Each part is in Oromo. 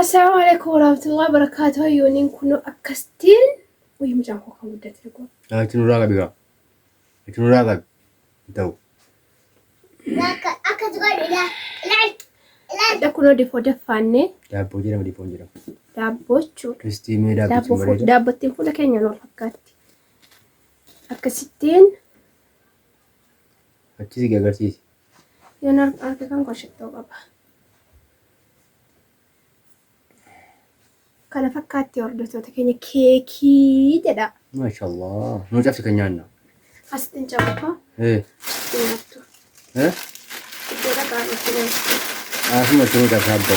Assalaamu alaikum warahmatullahi wabarakatuh hayyooniin kunoo akkastiin wayii mucaan koo kan guddate dhugaa. Yaa itti nurraa qabi gaa. Itti nurraa qabi. Hin ta'u. Akka akka godhu ila ila ila. Hadha kunoo difoo daffaannee Daabboo jedhama difoon jedhama. daabboo jechuudha. Ristii mee Daabboo daabbichi hin fuula bareeda. daabbottiin fuula keenyaan wal fakkaatti. Akkasittiin Achis igi agarsiisi. Yoon arg- arge kan koo shittoo qaba. Kana fakkaatti hordoftoota keenya keekii jedha. Maashaallah. Nuu cabsi kan nyaanna. Asitti hin cabatu. Eh, Asitti hin nyaattu. eh, Iddoo dhaqaa irratti nyaattu. asuma isin cabsa abbo.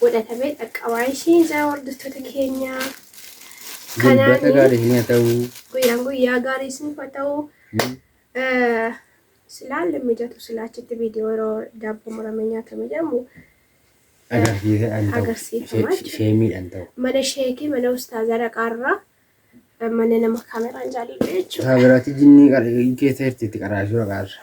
godhatamee dhaqqabaa ishii ijaa hordoftoota keenyaa. Dilbata gaarii isin haa ta'u. Guyyaan guyyaa gaarii isin haa ta'u. Silaa illee mijatu silaa achitti viidiyoo yeroo daabboo muramee nyaatame jedhamu Agarsiisa an ta'u. Agarsiifama She- Sheemiidhaan ta'u. mana sheekii mana ustaazaa dhaqaarraa mana nama kaameraan jaalillee jechuudha. Isaa biraatti jinnii qara- keessa jirti itti qaraashuu dhaqaarra.